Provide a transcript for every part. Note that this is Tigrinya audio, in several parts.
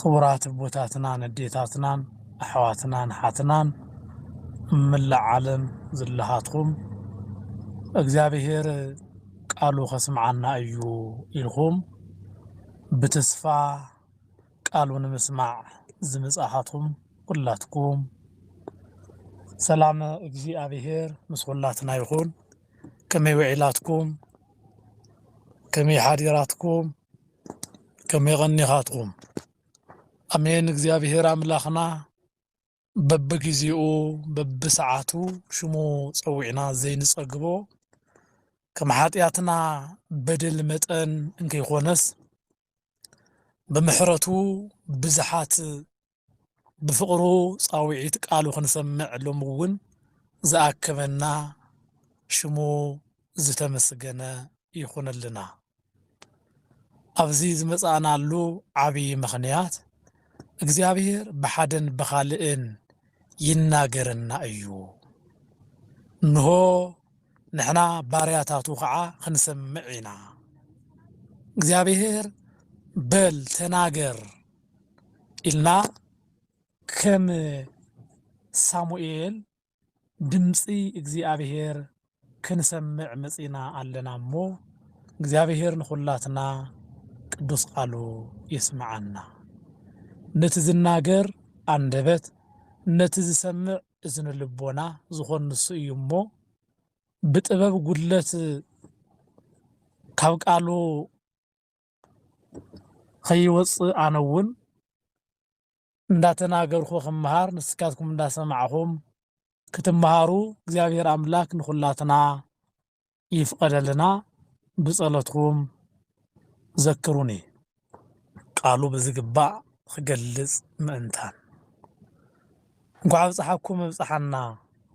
ኽቡራት ኣቦታትናን ኣዴታትናን ኣሕዋትናን ኣሓትናን ኣብ መላእ ዓለም ዘለኻትኩም እግዚኣብሄር ቃሉ ከስምዓና እዩ ኢልኩም ብተስፋ ቃሉ ንምስማዕ ዝመጻኻትኩም ኩላትኩም ሰላም እግዚኣብሄር ምስ ኩላትና ይኹን። ከመይ ውዒላትኩም? ከመይ ሓዲራትኩም? ከመይ ቐኒኻትኩም? ኣሜን እግዚኣብሔር ኣምላኽና በብጊዜኡ በብሰዓቱ ሽሙ ጸዊዕና ዘይንጸግቦ ከም ሓጢኣትና በደል መጠን እንከይኮነስ ብምሕረቱ ብዝሓት ብፍቕሩ ጻውዒት ቃሉ ክንሰምዕ ሎሚ እውን ዝኣከበና ሽሙ ዝተመስገነ ይኹነልና። ኣብዚ ዝመጻእናሉ ዓብይ ምኽንያት እግዚኣብሔር ብሓደን ብኻልእን ይናገረና እዩ። እንሆ ንሕና ባርያታቱ ከዓ ክንሰምዕ ኢና። እግዚኣብሔር በል ተናገር ኢልና ከም ሳሙኤል ድምጺ እግዚኣብሄር ክንሰምዕ መጺእና ኣለና እሞ እግዚኣብሄር ንኹላትና ቅዱስ ቃሉ የስምዓና ነቲ ዝናገር ኣንደበት ነቲ ዝሰምዕ እዝኒ ልቦና ዝኾን ንሱ እዩ እሞ ብጥበብ ጉድለት ካብ ቃሉ ኸይወፅእ ኣነ እውን እንዳተናገርኩ ክመሃር ንስካትኩም እንዳሰማዕኹም ክትመሃሩ እግዚኣብሔር ኣምላክ ንኹላትና ይፍቀደልና ብፀሎትኩም ዘክሩኒ ቃሉ ብዝግባእ ኽገልፅ ምእንታን። እንኳዕ ኣብፀሓኩም ኣብፀሓና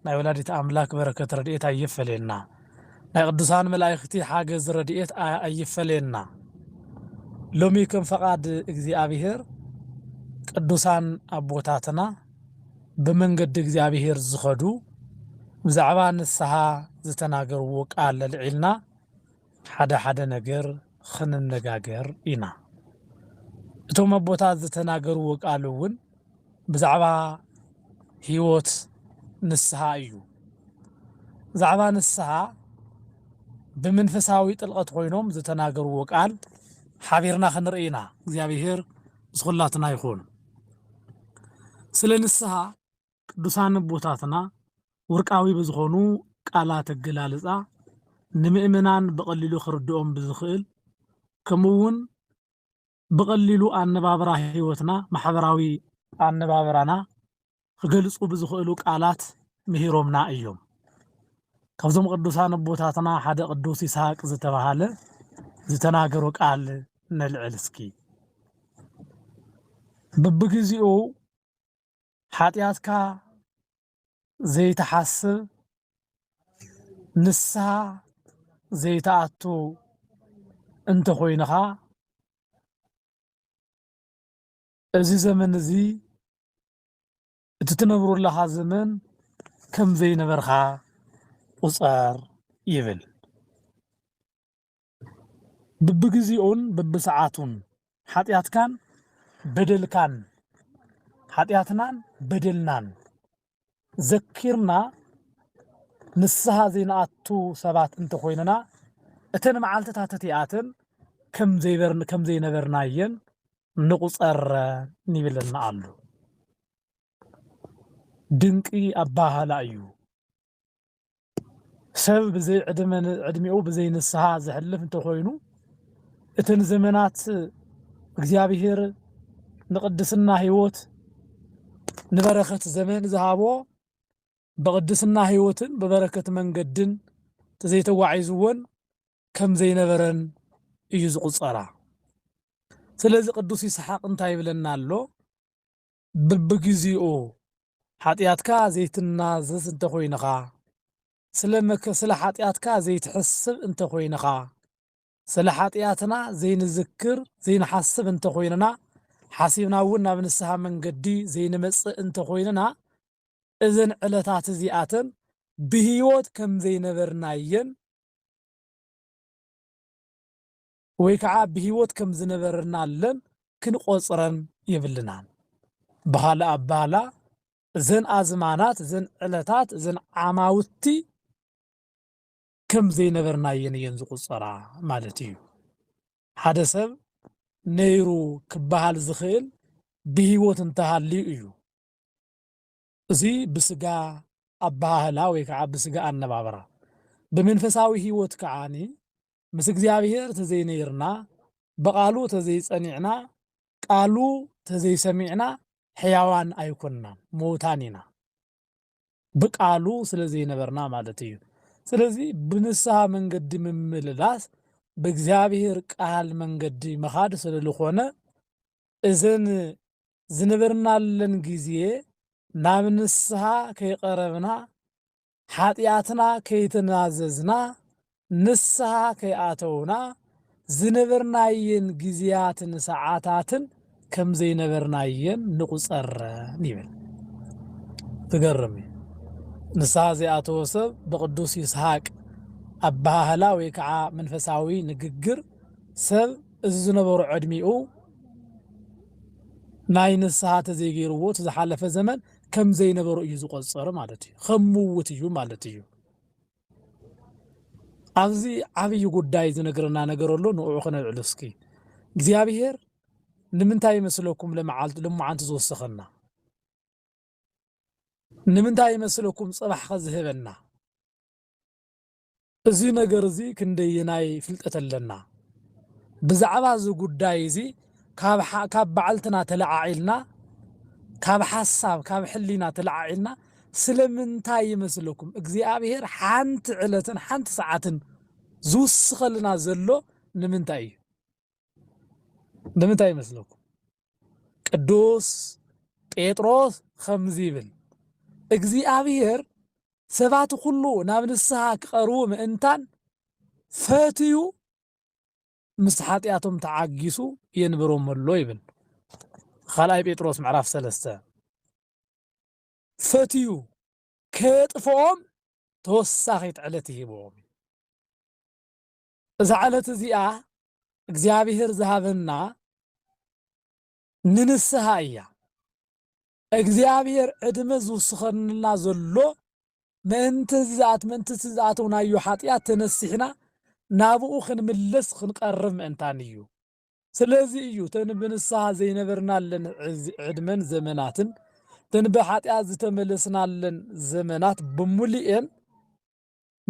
ናይ ወላዲተ ኣምላክ በረከት ረድኤት ኣይፈለየና ናይ ቅዱሳን መላኢክቲ ሓገዝ ረድኤት ኣይፈለየና ሎሚ ከም ፈቃድ እግዚኣብሔር ቅዱሳን ኣቦታትና ብመንገዲ እግዚኣብሔር ዝከዱ ብዛዕባ ንስሃ ዝተናገርዎ ቃል ኣልዒልና ሓደ ሓደ ነገር ኽንነጋገር ኢና። እቶም ኣቦታት ዝተናገርዎ ቃል እውን ብዛዕባ ህይወት ንስሓ እዩ። ብዛዕባ ንስሓ ብምንፈሳዊ ጥልቐት ኾይኖም ዝተናገርዎ ቃል ሓቢርና ኽንርኢ ኢና። እግዚኣብሄር ምስ ኹላትና ይኹን። ስለ ንስሓ ቅዱሳን ኣቦታትና ውርቃዊ ብዝኾኑ ቃላት ኣገላልጻ ንምእመናን ብቐሊሉ ክርድኦም ብዝኽእል ከምኡውን ብቐሊሉ ኣነባብራ ሕይወትና ማሕበራዊ ኣነባብራና ክገልጹ ብዝኽእሉ ቃላት ምሂሮምና እዮም። ካብዞም ቅዱሳን ኣቦታትና ሓደ ቅዱስ ይስሐቅ ዝተባሃለ ዝተናገሮ ቃል ነልዕል እስኪ። ብብግዚኡ ሓጢኣትካ ዘይትሓስብ ንስሓ ዘይትኣቱ እንተኾይንኻ እዚ ዘመን እዚ እቲ ትነብሮ ኣለኻ ዘመን ከም ዘይነበርካ ቁፀር ይብል። ብብግዜኡን ብብሰዓቱን ሓጢኣትካን በደልካን ሓጢኣትናን በደልናን ዘኪርና ንስሃ ዘይንኣቱ ሰባት እንተኾይንና እተን መዓልትታት እቲኣተን ከም ዘይነበርናየን ንቑፀረ ይብለና ኣሎ። ድንቂ ኣባሃህላ እዩ። ሰብ ብዘይ ዕድመ ዕድሜኡ ብዘይ ንስሓ ዘሕልፍ እንተኾይኑ እተን ዘመናት እግዚኣብሔር ንቅድስና ህይወት ንበረከት ዘመን ዝሃቦ ብቅድስና ህይወትን ብበረከት መንገድን ተዘይተጓዒዝዎን ከም ዘይነበረን እዩ ዝቁፀራ። ስለዚ ቅዱስ ይስሓቅ እንታይ ይብለና ኣሎ? ብብግዜኡ ሓጢኣትካ ዘይትናዘዝ እንተ ኾይንኻ፣ ስለ መከ ስለ ሓጢኣትካ ዘይትሕስብ እንተ ኾይንኻ፣ ስለ ሓጢኣትና ዘይንዝክር ዘይንሓስብ እንተ ኾይንና፣ ሓሲብና እውን ናብ ንስሓ መንገዲ ዘይንመጽእ እንተ ኾይንና፣ እዘን ዕለታት እዚኣተን ብህይወት ከም ዘይነበርና እየን። ወይ ከኣ ብህይወት ከም ዝነበርናለን ክንቆጽረን የብልናን። ብኻልእ ኣባህላ እዘን ኣዝማናት፣ እዘን ዕለታት፣ እዘን ዓማውቲ ከም ዘይነበርናየን እየን ዝቑጸራ ማለት እዩ። ሓደ ሰብ ነይሩ ክበሃል ዝኽእል ብህይወት እንተሃልዩ እዩ። እዚ ብስጋ ኣበሃህላ ወይ ከዓ ብስጋ ኣነባብራ ብመንፈሳዊ ህይወት ከዓ ምስ እግዚኣብሔር ተዘይነይርና ብቃሉ ተዘይፀኒዕና ቃሉ ተዘይሰሚዕና ሕያዋን ኣይኮንናን መውታን ኢና ብቃሉ ስለዘይነበርና ማለት እዩ ስለዚ ብንስሃ መንገዲ ምምልላስ ብእግዚኣብሔር ቃል መንገዲ ምኻድ ስለልኾነ እዘን ዝነበርናለን ግዜ ናብ ንስሃ ከይቐረብና ሓጥያትና ከይተናዘዝና ንስሃ ከይኣተውና ዝነበርናየን ግዜያትን ሰዓታትን ከም ዘይነበርናየን ንቑጸረን ይብል። ዝገርም እዩ። ንስሃ ዘይኣተወ ሰብ ብቅዱስ ይስሃቅ ኣበሃህላ ወይ ከዓ መንፈሳዊ ንግግር ሰብ እዚ ዝነበሮ ዕድሚኡ ናይ ንስሃ ተዘይገይርዎ እቲ ዝሓለፈ ዘመን ከም ዘይነበሮ እዩ ዝቆጽር ማለት እዩ ከም ምውት እዩ ማለት እዩ ኣብዚ ዓብይ ጉዳይ ዝነግረና ነገር ኣሎ ንኡ ክነልዕሉ እስኪ እግዚኣብሄር ንምንታይ ይመስለኩም ለመዓልቲ ለመዓንቲ ዝወሰኸና ንምንታይ ይመስለኩም ጽባሕ ከዝህበና እዚ ነገር እዚ ክንደየናይ ፍልጠት ኣለና? ብዛዕባ እዚ ጉዳይ እዚ ካብ ባዕልትና ተለዓዒልና፣ ካብ ሓሳብ፣ ካብ ሕሊና ተለዓዒልና ስለምንታይ ይመስለኩም እግዚኣብሄር ሓንቲ ዕለትን ሓንቲ ሰዓትን ዝውስኸልና ዘሎ ንምንታይ እዩ? ንምንታይ ይመስለኩም ቅዱስ ጴጥሮስ ከምዚ ይብል እግዚኣብሔር ሰባት ኩሉ ናብ ንስሓ ክቐርቡ ምእንታን ፈትዩ ምስ ሓጢኣቶም ተዓጊሱ የንብሮም ኣሎ ይብል ካልኣይ ጴጥሮስ ምዕራፍ ሰለስተ ፈትዩ ከየጥፍኦም ተወሳኺት ዕለት ይሂብዎም እዛ ዕለት እዚኣ እግዚኣብሔር ዝሃበና ንንስሃ እያ። እግዚኣብሔር ዕድመ ዝውስኸንልና ዘሎ ምእንቲ እዚ ዝኣት ምእንቲ እቲ ዝኣተውናዮ ሓጢኣት ተነሲሕና ናብኡ ክንምለስ ክንቀርብ ምእንታን እዩ። ስለዚ እዩ ተን ብንስሃ ዘይነበርናለን ዕድመን ዘመናትን ተን ብሓጢኣት ዝተመለስናለን ዘመናት ብምሉኤን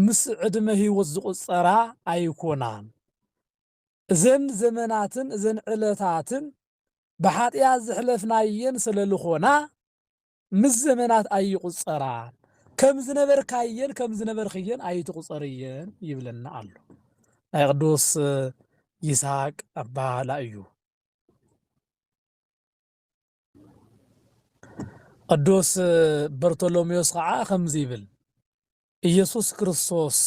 ምስ ዕድመ ህይወት ዝቑጸራ ኣይኮናን። እዘን ዘመናትን እዘን ዕለታትን ብሓጢኣት ዘሕለፍናየን ስለ ልኾና ምስ ዘመናት ኣይቑጸራን። ከም ዝነበርካየን ከም ዝነበርክየን ኣይትቑጸርየን ይብለና ኣሎ። ናይ ቅዱስ ይስሃቅ ኣባህላ እዩ። ቅዱስ በርቶሎሜዎስ ኸዓ ከምዚ ይብል ኢየሱስ ክርስቶስ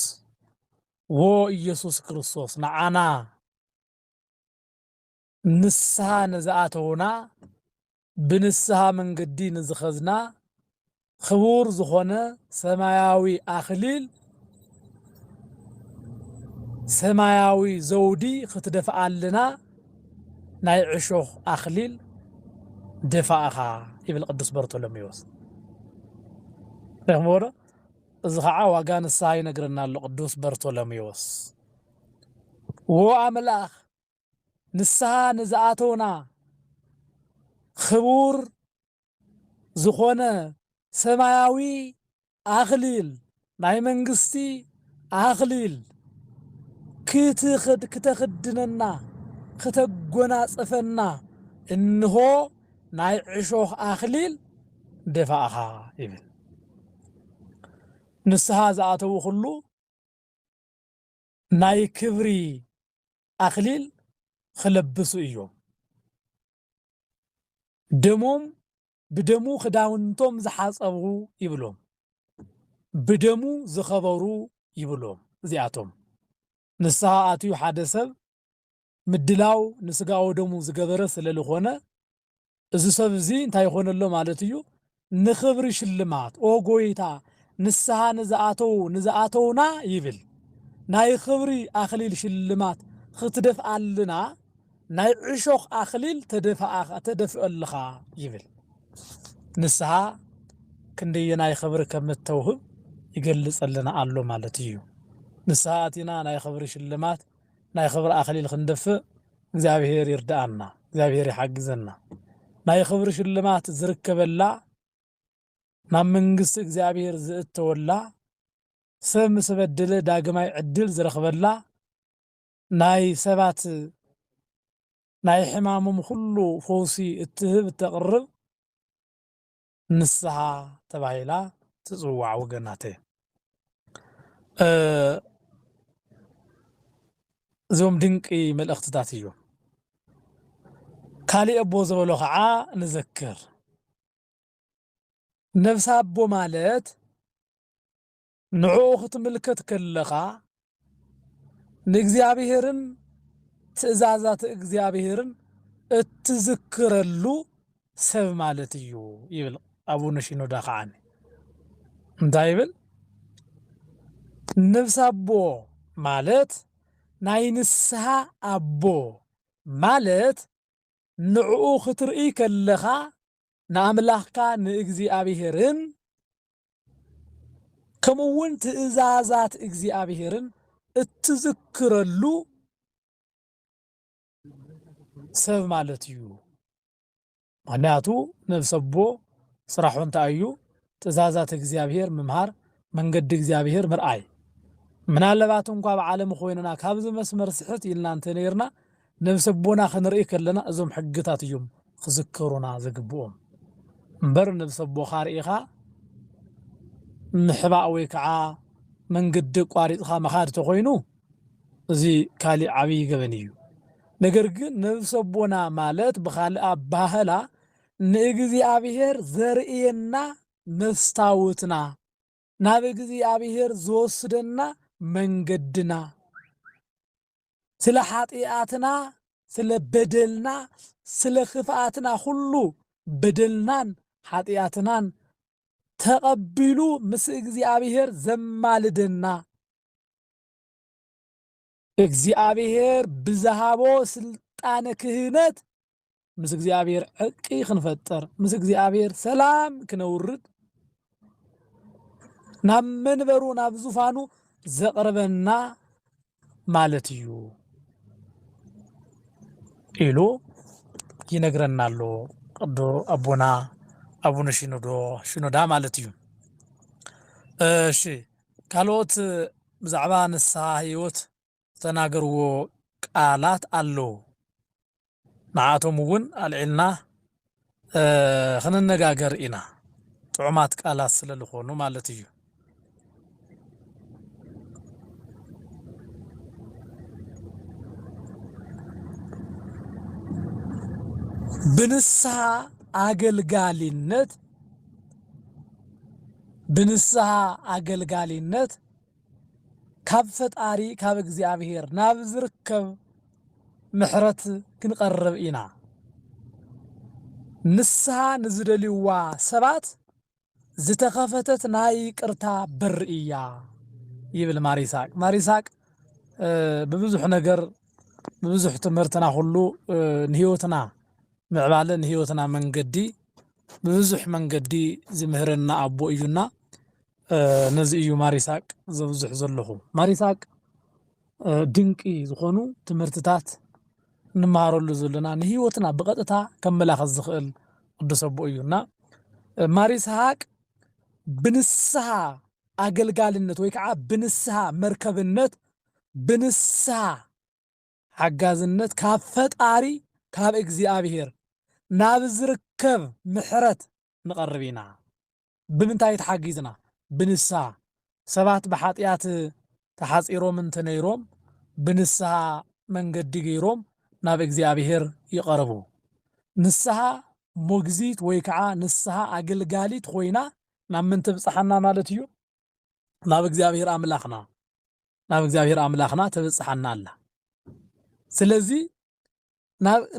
ዎ ኢየሱስ ክርስቶስ ንዓና ንስሓ ንዝኣተውና ብንስሓ መንገዲ ንዝኸዝና ኽቡር ዝኾነ ሰማያዊ ኣኽሊል፣ ሰማያዊ ዘውዲ ኽትደፍኣልና ናይ ዕሾኽ ኣኽሊል ደፋእኻ ይብል ቅዱስ በርቶሎሜዎስ። ርኢኹምዎ ዶ? እዚ ኸዓ ዋጋ ንስሓ ይነግረና ኣሎ ቅዱስ በርቶሎሜዎስ። ዎኣምላኽ ንስሃ ንዝኣተውና ኽቡር ዝኾነ ሰማያዊ ኣኽሊል፣ ናይ መንግስቲ ኣኽሊል፣ ክተኽድነና፣ ክተጎናጽፈና፣ እንሆ ናይ ዕሾኽ ኣኽሊል ደፋእኻ ይብል። ንስሃ ዝኣተው ኹሉ ናይ ክብሪ ኣኽሊል ኽለብሱ እዮም። ደሞም ብደሙ ኽዳውንቶም ዝሓጸቡ ይብሎም፣ ብደሙ ዝኸበሩ ይብሎም፣ እዚኣቶም ንስሃ ኣትዩ ሓደ ሰብ ምድላው ንስጋ ወደሙ ዝገበረ ስለልኾነ እዚ ሰብ እዚ እንታይ ይኾን ኣሎ ማለት እዩ ንኽብሪ ሽልማት ኦ ጎይታ ንስሃ ንዝኣተዉ ንዝኣተዉና ይብል ናይ ኽብሪ ኣኽሊል ሽልማት ኽትደፍኣልና ናይ ዕሾኽ ኣኽሊል ተደፍኣ ተደፍእልኻ ይብል ንስሃ ክንደየናይ ኽብሪ ከም እተውህብ ይገልጸልና ኣሎ ማለት እዩ ንስሃ ኣቲና ናይ ኽብሪ ሽልማት ናይ ኽብሪ ኣኽሊል ክንደፍእ እግዚኣብሔር ይርድኣና እግዚኣብሔር ይሓግዘና ናይ ኽብሪ ሽልማት ዝርከበላ ናብ መንግስቲ እግዚኣብሔር ዝእተወላ ሰብ ምስ በደለ ዳግማይ ዕድል ዝረኽበላ ናይ ሰባት ናይ ሕማሞም ኹሉ ፈውሲ እትህብ እተቅርብ ንስሃ ተባሂላ ትጽዋዕ ወገናተይ። እዞም ድንቂ መልእኽትታት እዮም። ካሊእ ኣቦ ዝበሎ ከዓ ንዘክር። ነብሰ ኣቦ ማለት ንዕኡ ክትምልከት ከለኻ ንእግዚኣብሔርን ትእዛዛት እግዚኣብሔርን እትዝክረሉ ሰብ ማለት እዩ ይብል ኣቡነ ሺኖዳ ከዓኒ እንታይ ይብል ነብስ ኣቦ ማለት ናይ ንስሓ ኣቦ ማለት ንዕኡ ክትርእይ ከለኻ ንኣምላኽካ ንእግዚኣብሔርን ከምኡውን ትእዛዛት እግዚኣብሔርን እትዝክረሉ ሰብ ማለት እዩ ምክንያቱ ነብሰቦ ስራሑ እንታይ እዩ ትእዛዛት እግዚኣብሔር ምምሃር መንገዲ እግዚኣብሔር ምርኣይ ምናለባት እንኳ ኣብ ዓለም ኮይንና ካብዚ መስመር ስሕት ኢልና እንተነርና ነብሰ ኣቦና ክንርኢ ከለና እዞም ሕግታት እዮም ክዝከሩና ዝግብኦም እምበር ነብሰ ኣቦኻ ርኢኻ ምሕባእ ወይ ከዓ መንገዲ ኣቋሪፅኻ ምኻድ ተኾይኑ እዚ ካሊእ ዓብይ ገበን እዩ። ነገር ግን ነብሰ ኣቦና ማለት ብኻልእ ኣበሃህላ ንእግዚኣብሔር ዘርእየና መስታውትና ናብ እግዚኣብሔር ዝወስደና መንገድና ስለ ኃጢኣትና ስለ በደልና ስለ ክፍኣትና ኹሉ በደልናን ኃጢኣትናን ተቐቢሉ ምስ እግዚኣብሔር ዘማልደና እግዚኣብሔር ብዝሃቦ ስልጣነ ክህነት ምስ እግዚኣብሔር ዕርቂ ክንፈጥር ምስ እግዚኣብሔር ሰላም ክነውርድ ናብ መንበሩ ናብ ዙፋኑ ዘቕርበና ማለት እዩ ኢሉ ይነግረና ኣሎ ቅዱ ኣቦና ኣቡነ ሽኖዶ ሽኖዳ ማለት እዩ። እሺ ካልኦት ብዛዕባ ንስሓ ህይወት ዝተናገርዎ ቃላት ኣለዉ ንዓኣቶም እውን ኣልዒልና ክንነጋገር ኢና ጥዑማት ቃላት ስለ ልኾኑ ማለት እዩ። ብንስሓ ኣገልጋሊነት ብንስሃ ኣገልጋሊነት ካብ ፈጣሪ ካብ እግዚኣብሔር ናብ ዝርከብ ምሕረት ክንቐርብ ኢና። ንስሃ ንዝደልይዋ ሰባት ዝተኸፈተት ናይ ይቅርታ በር እያ ይብል ማሪሳቅ። ማሪሳቅ ብብዙሕ ነገር ብብዙሕ ትምህርትና ኩሉ ንህይወትና ምዕባለ ንህይወትና መንገዲ ብብዙሕ መንገዲ ዝምህረና ኣቦ እዩና ነዚ እዩ ማር ይስሃቅ ዘብዝሕ ዘለኹ ማር ይስሃቅ ድንቂ ዝኾኑ ትምህርትታት እንመሃረሉ ዘለና ንህይወትና ብቐጥታ ከመላኸት ዝኽእል ቅዱስ ኣቦ እዩና ማር ይስሃቅ ብንስሃ ኣገልጋልነት ወይ ከዓ ብንስሃ መርከብነት ብንስሃ ሓጋዝነት ካብ ፈጣሪ ካብ እግዚኣብሔር ናብ ዝርከብ ምሕረት ንቐርብ ኢና። ብምንታይ ተሓጊዝና? ብንስሃ። ሰባት ብሓጥያት ተሓጺሮም እንተ ነይሮም ብንስሃ መንገዲ ገይሮም ናብ እግዚኣብሔር ይቐርቡ። ንስሃ ሞግዚት ወይ ከዓ ንስሃ ኣገልጋሊት ኾይና ናብ ምን ትብጽሓና ማለት እዩ? ናብ እግዚኣብሔር ኣምላኽና ናብ እግዚኣብሔር ኣምላኽና ተበጽሓና ኣላ ስለዚ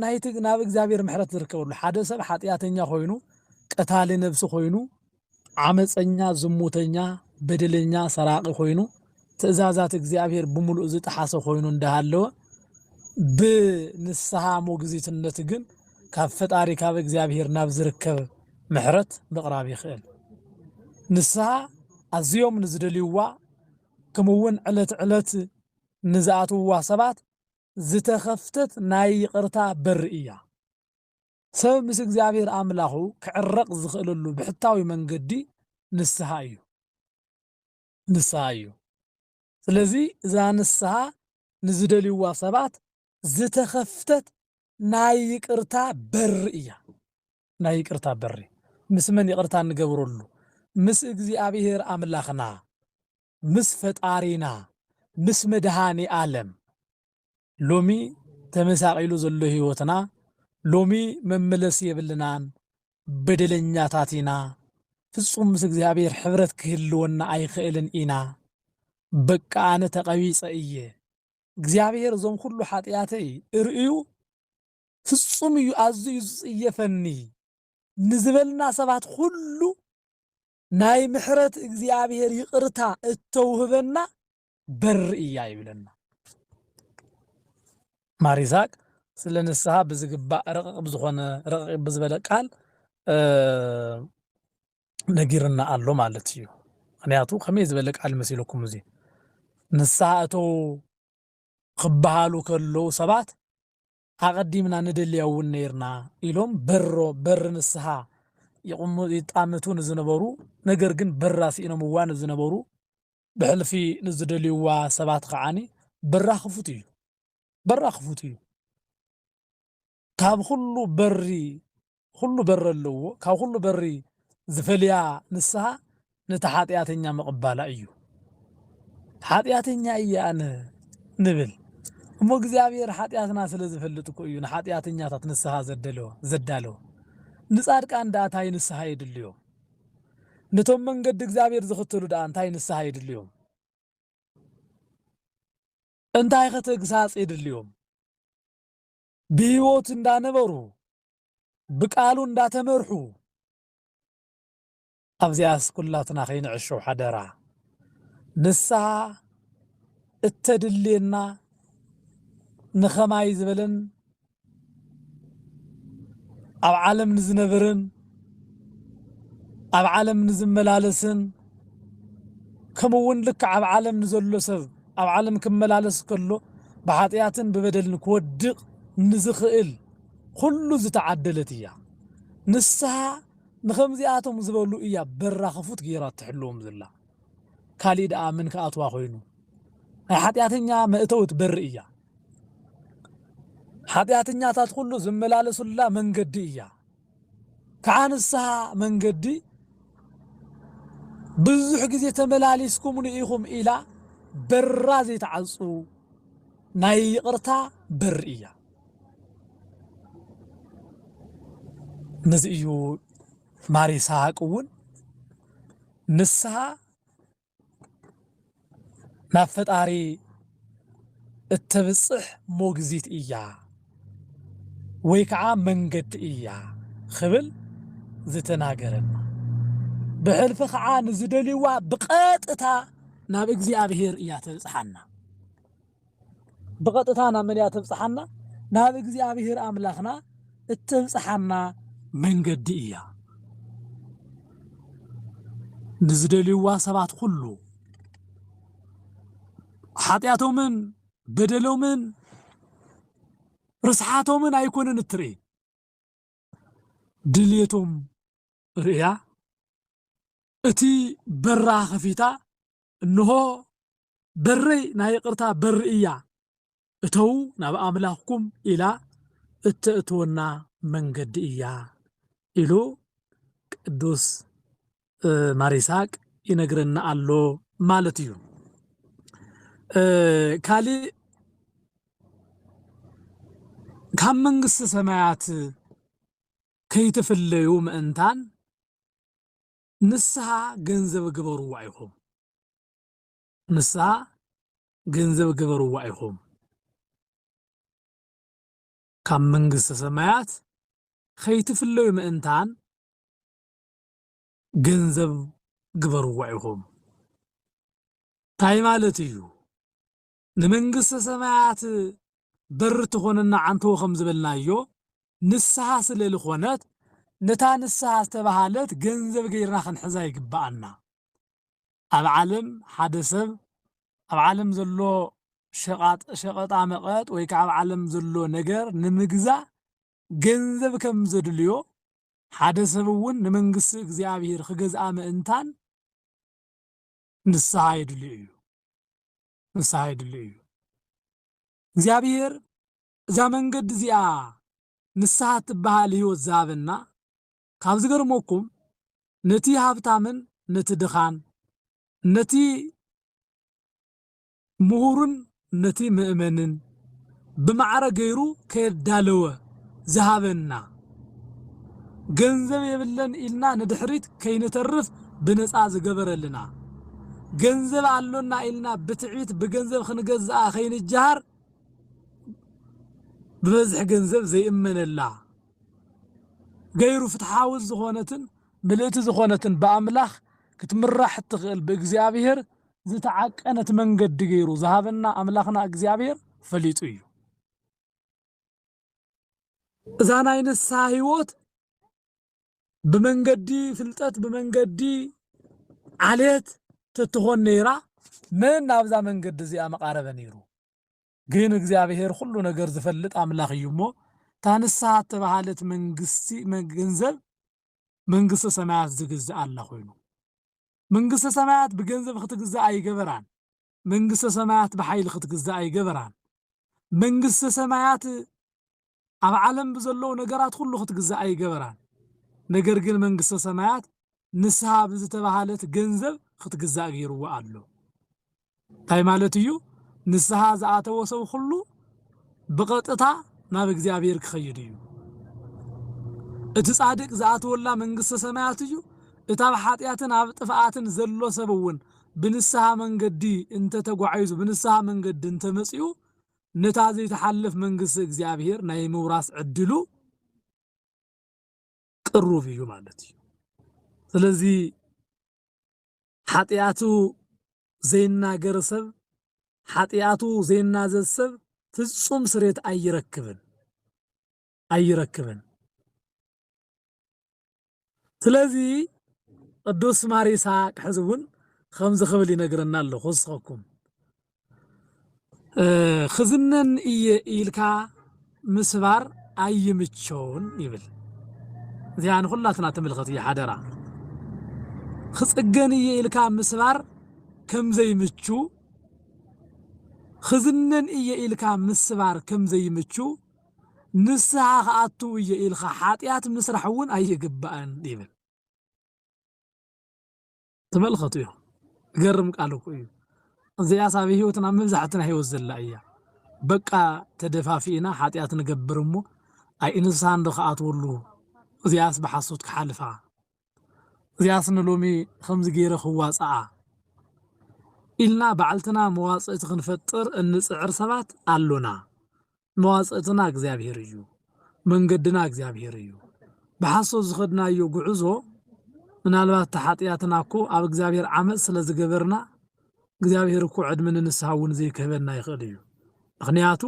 ናይቲ ናብ እግዚኣብሔር ምሕረት ዝርከበሉ ሓደ ሰብ ሓጢኣተኛ ኮይኑ ቀታሊ ነብሲ ኮይኑ ዓመፀኛ ዝሙተኛ በደለኛ ሰራቂ ኮይኑ ትእዛዛት እግዚኣብሔር ብምሉእ ዝጠሓሰ ኮይኑ እንዳሃለወ ብንስሓ ሞግዚትነት ግን ካብ ፈጣሪ ካብ እግዚኣብሔር ናብ ዝርከብ ምሕረት ምቕራብ ይኽእል። ንስሃ ኣዝዮም ንዝደልዩዋ ከምኡ'ውን ዕለት ዕለት ንዝኣትውዋ ሰባት ዝተኸፍተት ናይ ይቕርታ በሪ እያ። ሰብ ምስ እግዚኣብሔር ኣምላኹ ክዕረቕ ዝኽእለሉ ብሕታዊ መንገዲ ንስሃ እዩ። ንስሃ እዩ። ስለዚ እዛ ንስሃ ንዝደልዩዋ ሰባት ዝተኸፍተት ናይ ይቅርታ በሪ እያ። ናይ ይቅርታ በሪ ምስ መን ይቅርታ እንገብረሉ ምስ እግዚኣብሔር ኣምላኽና ምስ ፈጣሪና ምስ መድኃኒኣለም ሎሚ ተመሳቂሉ ዘሎ ሕይወትና ሎሚ መመለሲ የብልናን በደለኛታት ኢና ፍጹም ምስ እግዚኣብሔር ሕብረት ክህልወና ኣይክእልን ኢና በቃ ኣነ ተቀቢጸ እየ እግዚኣብሔር እዞም ኩሉ ሓጥያተይ እርእዩ ፍጹም እዩ ኣዝዩ እዩ ዝጽየፈኒ ንዝበልና ሰባት ኹሉ ናይ ምሕረት እግዚኣብሔር ይቅርታ እተውህበና በር እያ ይብለና። ማር ይስሐቅ ስለ ንስሓ ብዝግባእ ረቕቕ ብዝኾነ ረቕቕ ብዝበለ ቃል ነጊርና ኣሎ ማለት እዩ። ምክንያቱ ከመይ ዝበለ ቃል መሲለኩም እዚ ንስሓ እተው ክበሃሉ ከለዉ ሰባት ኣቐዲምና ንደልያ እውን ነይርና ኢሎም በሮ፣ በሪ ንስሃ፣ ይጣምቱ ንዝነበሩ ነገር ግን በራ ስኢኖምዋ ንዝነበሩ ብሕልፊ ንዝደልዩዋ ሰባት ኸዓ በራ ክፉት እዩ፣ በራ ክፉት እዩ፣ ካብ ኹሉ በሪ ኹሉ በሪ ኣለዎ ካብ ኹሉ በሪ ዝፈልያ ንስሃ ነቲ ሓጥያተኛ ምቕባላ እዩ ሓጥያተኛ እየ ኣነ ንብል እሞ እግዚኣብሔር ሓጢኣትና ስለ ዝፈልጥ እኮ እዩ ንሓጢኣተኛታት ንስሃ ዘደለወ ዘዳለወ ንጻድቃን ደኣ እንታይ ንስሃ የድልዮም ነቶም መንገዲ እግዚኣብሔር ዝኽተሉ ደኣ እንታይ ንስሃ የድልዮም እንታይ ከተግሳጽ የድልዮም ብህይወት እንዳነበሩ ብቃሉ እንዳተመርሑ ኣብዚኣስ ኩላትና ከይንዕሾ ሓደራ ንስሃ እተድልየና ንከማይ ዝበለን ኣብ ዓለም ንዝነበረን ኣብ ዓለም ንዝመላለስን ከምኡ እውን ልክዕ ኣብ ዓለም ንዘሎ ሰብ ኣብ ዓለም ክመላለስ ከሎ ብሓጢኣትን ብበደልን ክወድቕ ንዝኽእል ኩሉ ዝተዓደለት እያ። ንስሃ ንኸምዚኣቶም ዝበሉ እያ በራ ክፉት ገይራ እትሕልዎም ዘላ። ካሊእ ደኣ መን ክኣትዋ ኮይኑ? ናይ ሓጢኣተኛ መእተዊት በሪ እያ። ሓጢኣተኛታት ኩሉ ዝመላለሱላ መንገዲ እያ። ከኣ ንስሃ መንገዲ ብዙሕ ግዜ ተመላሊስኩምሉ ኢኹም ኢላ በራ ዘይትዓጹ ናይ ይቕርታ በሪ እያ። ነዚ እዩ ማር ይስሃቅ እውን ንስሃ ናብ ፈጣሪ እተብጽሕ ሞግዚት እያ ወይ ከኣ መንገዲ እያ ኽብል ዝተናገረና። ብሕልፊ ኸኣ ንዝደልይዋ ብቐጥታ ናብ እግዚኣብሔር እያ ተብጽሓና። ብቐጥታ ናብ መን እያ ተብጽሓና? ናብ እግዚኣብሄር ኣምላኽና እተብጽሓና መንገዲ እያ። ንዝደልይዋ ሰባት ኹሉ ሓጢኣቶምን በደሎምን ርስሓቶምን ኣይኮነን እትርኢ ድልየቶም ርእያ እቲ በራ ከፊታ እንሆ በረይ ናይ ይቕርታ በሪ እያ፣ እተዉ ናብ ኣምላኽኩም ኢላ እተእትወና መንገዲ እያ ኢሉ ቅዱስ ማር ይስሃቅ ይነግረና ኣሎ ማለት እዩ። ካሊእ ካብ መንግስቲ ሰማያት ከይትፍለዩ ምእንታን ንስሃ ገንዘብ ግበርዋ ኢኹም ንስሃ ገንዘብ ግበርዋ ኢኹም ካብ መንግስተ ሰማያት ኸይትፍለዩ ምእንታን ገንዘብ ግበርዋ ኢኹም ታይ ማለት እዩ ንመንግስተ ሰማያት በሪ ትኾነና ዓንተቦ ከም ዝበልናዮ ንስሃ ስለ ልኾነት ነታ ንስሃ ዝተባሃለት ገንዘብ ገይርና ክንሕዛ ይግብኣና። ኣብ ዓለም ሓደ ሰብ ኣብ ዓለም ዘሎ ሸቃጥ ሸቀጣ መቀጥ ወይ ከዓ ኣብ ዓለም ዘሎ ነገር ንምግዛእ ገንዘብ ከም ዘድልዮ ሓደ ሰብ እውን ንመንግስቲ እግዚኣብሔር ክገዝኣ ምእንታን ንስሓ የድልዩ እዩ ንስሓ የድልዩ እዩ እግዚኣብሔር እዛ መንገዲ እዚኣ ንስሓ እትበሃል ህይወት ዝሃበና ካብ ዝገርመኩም ነቲ ሃብታምን ነቲ ድኻን ነቲ ምሁሩን ነቲ መእመንን ብማዕረ ገይሩ ከየዳለወ ዝሃበና ገንዘብ የብለን ኢልና ንድሕሪት ከይንተርፍ ብነጻ ዝገበረልና ገንዘብ ኣሎና ኢልና ብትዕቢት ብገንዘብ ክንገዝኣ ከይንጀሃር ብበዝሒ ገንዘብ ዘይእመነላ ገይሩ ፍትሓዊት ዝኾነትን ምልእቲ ዝኾነትን ብኣምላኽ ክትምራሕ እትኽእል ብእግዚኣብሔር ዝተዓቀነት መንገዲ ገይሩ ዝሃበና ኣምላኽና እግዚኣብሔር ፈሊጡ እዩ። እዛ ናይ ንስሓ ህይወት ብመንገዲ ፍልጠት ብመንገዲ ዓሌት ተትኾን ነይራ መን ናብዛ መንገዲ እዚኣ መቃረበ ነይሩ። ግን እግዚኣብሔር ኩሉ ነገር ዝፈልጥ ኣምላኽ እዩ እሞ እታ ንስሓ እተባሃለት መንግስቲ ገንዘብ መንግስቲ ሰማያት ዝግዝእ ኣላ ኮይኑ መንግስተ ሰማያት ብገንዘብ ኽትግዛእ ኣይገበራን፣ መንግስተ ሰማያት ብሓይሊ ኽትግዛእ ኣይገበራን። መንግስተ ሰማያት ኣብ ዓለም ብዘለዉ ነገራት ዅሉ ኽትግዛእ ኣይገበራን። ነገር ግን መንግስተ ሰማያት ንስሃ ብዝተባህለት ገንዘብ ኽትግዛእ ገይርዋ ኣሎ። እንታይ ማለት እዩ? ንስሃ ዝኣተወ ሰብ ኹሉ ብቐጥታ ናብ እግዚኣብሔር ክኸይድ እዩ። እቲ ጻድቅ ዝኣትወላ መንግሥተ ሰማያት እዩ። እቲ ኣብ ኃጢኣትን ኣብ ጥፍኣትን ዘሎ ሰብ እውን ብንስሃ መንገዲ እንተ ተጓዒዙ ብንስሃ መንገዲ እንተ መጺኡ ነታ ዘይትሓልፍ መንግሥተ እግዚኣብሔር ናይ ምውራስ ዕድሉ ቅሩብ እዩ ማለት እዩ። ስለዚ ሓጢኣቱ ዘይናገር ሰብ፣ ሓጢኣቱ ዘይናዘዝ ሰብ ፍጹም ስሬት ኣይረክብን ኣይረክብን። ስለዚ ቅዱስ ማር ይስሓቅ ሕዚ እውን ከምዚ ክብል ይነግረና ኣሎ ክውስኸኩም ክዝነን እየ ኢልካ ምስባር ኣይምቸውን ይብል። እዚኣ ንኹላትና ትምልከት እያ ሓደራ። ክፅገን እየ ኢልካ ምስባር ከምዘይምቹ ክዝነን እየ ኢልካ ምስባር ከምዘይምቹ ንስሃ ክኣትው እየ ኢልካ ሓጢኣት ምስራሕ እውን ኣይግባእን ይብል። ተመልኸቱ እዮም ገርም ቃል እኮ እዩ እዚኣስ ኣብ ህይወትና ኣብ መብዛሕትና ህይወት ዘላ እያ በቃ ተደፋፊእና ሓጢኣት ንገብር እሞ ኣይ እንስሳ እንዶ ክኣትወሉ እዚኣስ ብሓሶት ክሓልፋ እዚኣስ ንሎሚ ከምዚ ገይረ ክዋፅኣ ኢልና ባዕልትና መዋፅእቲ ክንፈጥር እንፅዕር ሰባት ኣሎና መዋጽእትና እግዚኣብሄር እዩ መንገድና እግዚኣብሄር እዩ ብሓሶት ዝኸድናዮ ጉዕዞ ምናልባት እቲ ሓጥያትና እኮ ኣብ እግዚኣብሄር ዓመጽ ስለ ዝገበርና እግዚኣብሄር እኮ ዕድመ ንንስሃ እውን ዘይክህበና ይኽእል እዩ ምኽንያቱ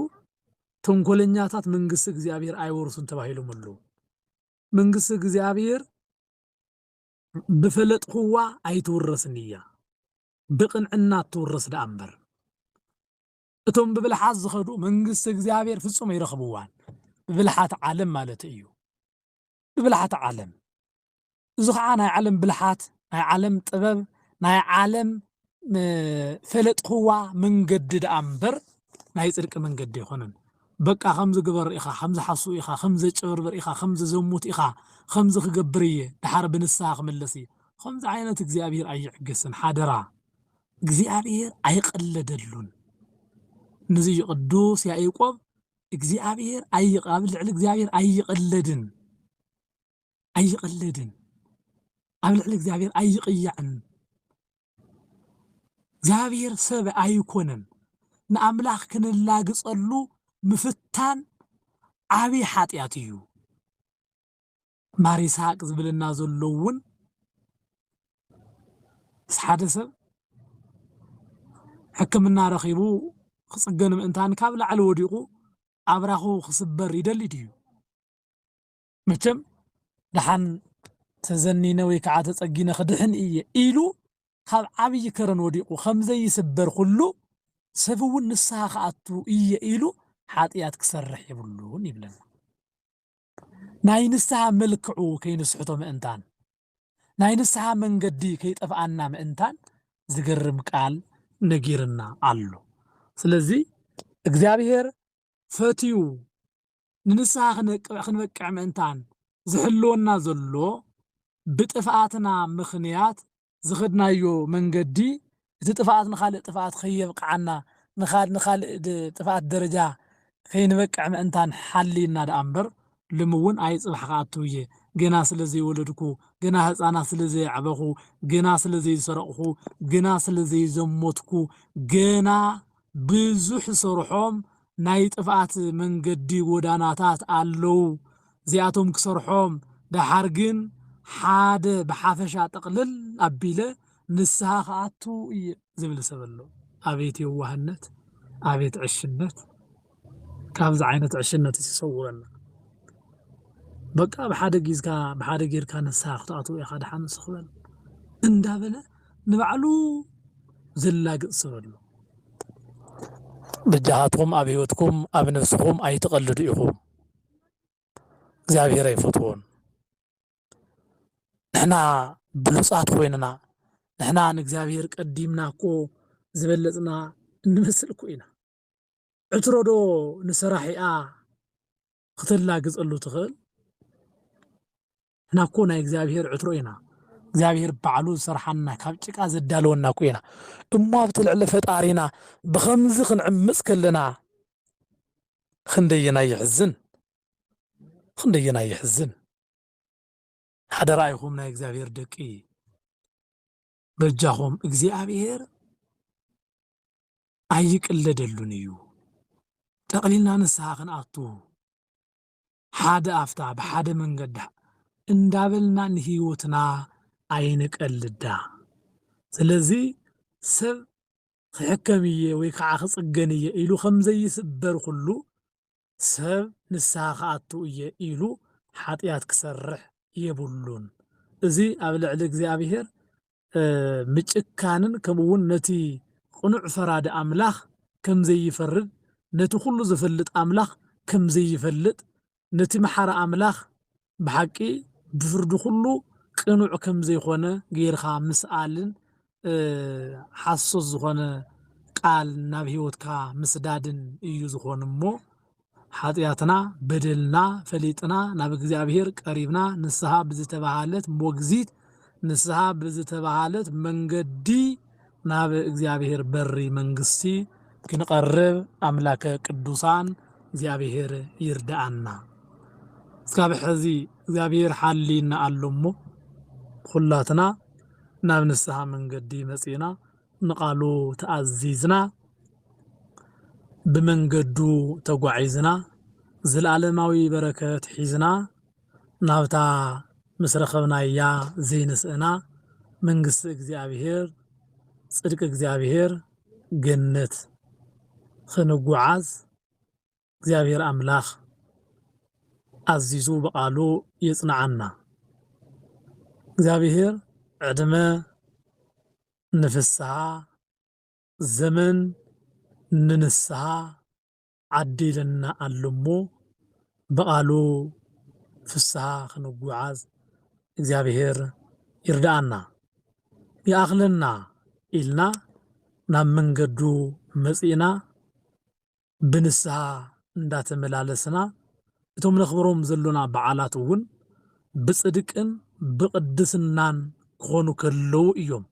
ተንኮለኛታት መንግስቲ እግዚኣብሄር ኣይወርሱን ተባሂሎም ኣለዉ መንግስቲ እግዚኣብሄር ብፈለጥክዋ ኣይትውረስን እያ ብቅንዕና ትውረስ ደኣ እምበር። እቶም ብብልሓት ዝኸዱ መንግስቲ እግዚኣብሔር ፍጹም ኣይረኽብዋን። ብብልሓት ዓለም ማለት እዩ። ብብልሓት ዓለም እዚ ከዓ ናይ ዓለም ብልሓት፣ ናይ ዓለም ጥበብ፣ ናይ ዓለም ፈለጥኽዋ መንገዲ ደኣ እምበር ናይ ጽድቂ መንገዲ ኣይኮነን። በቃ ከምዚ ግበር ኢኻ ከምዚ ሓሱ ኢኻ ከምዚ ዘጭበርብር ኢኻ ከምዚ ዘሙት ኢኻ ከምዚ ክገብር እየ ድሓር ብንስሃ ክምለስ እየ ከምዚ ዓይነት እግዚኣብሄር ኣይዕገስን ሓደራ እግዚኣብሔር ኣይቐለደሉን። ነዚ እዩ ቅዱስ ያዕቆብ እግዚኣብሔር ኣብ ልዕሊ እግዚኣብሔር ኣይቐለድን ኣይቐለድን ኣብ ልዕሊ እግዚኣብሔር ኣይቕያዕን እግዚኣብሔር ሰብ ኣይኮነን ንኣምላኽ ክንላግጸሉ ምፍታን ዓብዪ ሓጢኣት እዩ ማር ይስሃቅ ዝብለና ዘሎ ውን ምስ ሓደ ሰብ ሕክምና ረኺቡ ክጽገን ምእንታን ካብ ላዕሊ ወዲቑ ኣብራኹ ክስበር ይደሊ ድዩ? መቸም ደሓን ተዘኒነ ወይ ከዓ ተጸጊነ ክድሕን እየ ኢሉ ካብ ዓብዪ ከረን ወዲቑ ከምዘይስበር ኩሉ ሰብ እውን ንስሃ ክኣቱ እየ ኢሉ ሓጥያት ክሰርሕ የብሉን ይብለና። ናይ ንስሓ መልክዑ ከይንስሕቶ ምእንታን፣ ናይ ንስሓ መንገዲ ከይጠፍኣና ምእንታን ዝገርም ቃል ነጊርና ኣሎ። ስለዚ እግዚኣብሄር ፈትዩ ንንስሓ ክንበቅዕ ምእንታን ዝሕልወና ዘሎ ብጥፍኣትና ምኽንያት ዝኸድናዮ መንገዲ እቲ ጥፍኣት ንኻልእ ጥፍኣት ከየብቅዓና ንኻድ ንኻልእ ጥፍኣት ደረጃ ከይንበቅዕ ምእንታን ሓልዩና ደኣ እምበር ልሚ እውን ኣይ ፅባሕ ክኣትው እየ ገና ስለዘይወለድኩ ገና ህፃናት ስለዘየዕበኹ ገና ስለዘይሰረቕኹ ግና ስለዘይዘሞትኩ ገና ብዙሕ ዝሰርሖም ናይ ጥፍኣት መንገዲ ጎዳናታት ኣለው እዚኣቶም ክሰርሖም ደሓር ግን ሓደ ብሓፈሻ ጥቅልል ኣቢለ ንስሃ ክኣቱ እየ ዝብል ሰብ ኣሎ ኣቤት የዋህነት ኣቤት ዕሽነት ካብዚ ዓይነት ዕሽነትስ ይሰውረና በቃ ብሓደ ጊዝካ ብሓደ ጌርካ ንስሃ ክትኣትው ኢኻ ድሓን ስኽ በል እንዳበለ ንባዕሉ ዘላግጽ ሰብ ኣሎ። በጃኻትኩም ኣብ ህይወትኩም ኣብ ነብስኹም ኣይትቀልዱ ኢኹም እግዚኣብሄር ኣይፈትዎን። ንሕና ብሉጻት ኮይንና ንሕና ንእግዚኣብሄር ቀዲምና እኮ ዝበለጽና እንመስል እኮ ኢና። ዕትሮ ዶ ንሰራሒኣ ኽተላግጸሉ ትኽእል? ንሕና እኮ ናይ እግዚኣብሄር ዕትሮ ኢና። እግዚኣብሄር ባዕሉ ዝሰርሓና ካብ ጭቃ ዘዳለወና እኮ ኢና። እሞ ኣብቲ ልዕሊ ፈጣሪና ብኸምዚ ኽንዕምጽ ከለና ኽንደየናይ የሕዝን! ኽንደየናይ የሕዝን! ሓደራ ኢኹም ናይ እግዚኣብሄር ደቂ! በጃኹም እግዚኣብሔር ኣይቅለደሉን እዩ። ጠቕሊልና ንስሓ ክንኣቱ ሓደ ኣፍታ ብሓደ መንገዳ እንዳበልና ንህይወትና ኣይንቀልዳ። ስለዚ ሰብ ክሕከም እየ ወይ ከዓ ክፅገን እየ ኢሉ ከምዘይስበር ኩሉ ሰብ ንስሃ ክኣቱ እየ ኢሉ ሓጥያት ክሰርሕ የብሉን። እዚ ኣብ ልዕሊ እግዚኣብሄር ምጭካንን ከምኡ ውን ነቲ ቕኑዕ ፈራዲ ኣምላኽ ከም ዘይፈርድ ነቲ ኩሉ ዝፈልጥ ኣምላኽ ከም ዘይፈልጥ ነቲ መሓሪ ኣምላኽ ብሓቂ ብፍርዲ ኩሉ ቅኑዕ ከም ዘይኮነ ገይርካ ምስኣልን ሓሶት ዝኾነ ቃል ናብ ሕይወትካ ምስዳድን እዩ ዝኾን እሞ ሓጢኣትና በደልና ፈሊጥና ናብ እግዚኣብሔር ቀሪብና ንስሓ ብዝተባሃለት ሞግዚት ንስሓ ብዝተባሃለት መንገዲ ናብ እግዚኣብሔር በሪ መንግስቲ ክንቐርብ ኣምላከ ቅዱሳን እግዚኣብሔር ይርድኣና እስካብ ሐዚ እግዚኣብሔር ሓልይና ኣሎ እሞ ኹላትና ናብ ንስሃ መንገዲ መፂእና ንቓሉ ተኣዚዝና ብመንገዱ ተጓዒዝና ዝልኣለማዊ በረከት ሒዝና ናብታ ምስ ረኸብናያ ዘይንስእና መንግስቲ እግዚኣብሔር ጽድቂ እግዚኣብሔር ገነት ኽንጉዓዝ እግዚኣብሔር ኣምላኽ ኣዚዙ ብቃሉ የጽንዓና እግዚኣብሔር ዕድመ ንፍስሃ ዘመን ንንስሃ ዓዲ ኢለና ኣሎ እሞ ብቃሉ ፍስሃ ክንጉዓዝ እግዚኣብሔር ይርድኣና ይኣኽለና ኢልና ናብ መንገዱ መጺእና ብንስሃ እንዳተመላለስና እቶም ነኽብሮም ዘሎና በዓላት እውን ብጽድቅን ብቅድስናን ክኾኑ ከለዉ እዮም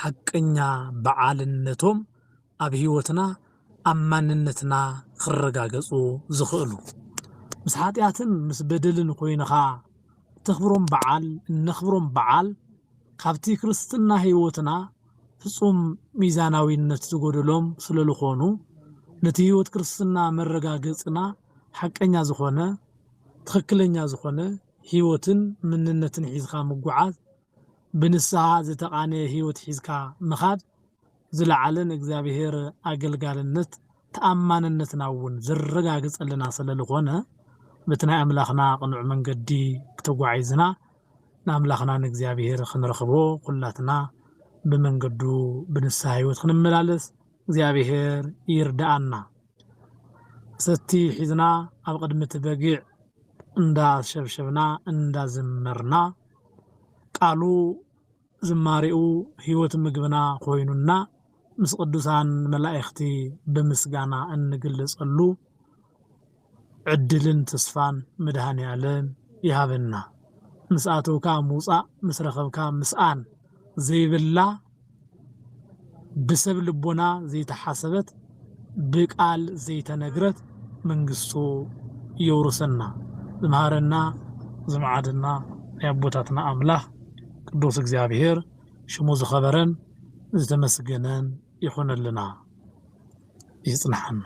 ሓቀኛ በዓልነቶም ኣብ ሕይወትና ኣብ ማንነትና ኽረጋገጹ ዝኽእሉ። ምስ ሓጢኣትን ምስ በደልን ኮይንኻ እተኽብሮም በዓል እነኽብሮም በዓል ካብቲ ክርስትና ሕይወትና ፍጹም ሚዛናዊነት ዝጎደሎም ስለልኾኑ ነቲ ሕይወት ክርስትና መረጋገጽና ሓቀኛ ዝኾነ ትኽክለኛ ዝኾነ ሕይወትን ምንነትን ሒዝኻ ምጉዓዝ ብንስሃ ዝተቓነየ ሕይወት ሒዝካ ምኻድ ዝለዓለ ንእግዚኣብሔር ኣገልጋልነት ተኣማንነትና'ውን ዘረጋግጸልና ሰለልኾነ በቲ ናይ ኣምላኽና ቅኑዕ መንገዲ ተጓዒዝና ንኣምላኽና ንእግዚኣብሔር ክንረኽቦ ኩላትና ብመንገዱ ብንስሃ ሕይወት ክንመላለስ እግዚኣብሔር ይርድኣና። ሰቲ ሒዝና ኣብ ቕድሚ እቲ በጊዕ እንዳሸብሸብና እንዳዘመርና ቃሉ ዝማሬኡ ሕይወት ምግብና ኮይኑና ምስ ቅዱሳን መላእክቲ ብምስጋና እንግለጸሉ ዕድልን ተስፋን መድኃኔዓለም ይሃበና። ምስ ኣተውካ ምውጻእ ምስ ረኸብካ ምስኣን ዘይብላ ብሰብ ልቦና ዘይተሓሰበት ብቃል ዘይተነግረት መንግስቱ የውርሰና ዝመሃረና ዝመዓደና ናይ ኣቦታትና ኣምላኽ ቅዱስ እግዚኣብሔር ሽሙ ዝኸበረን ዝተመስገነን ይኹነልና ይጽንሓና።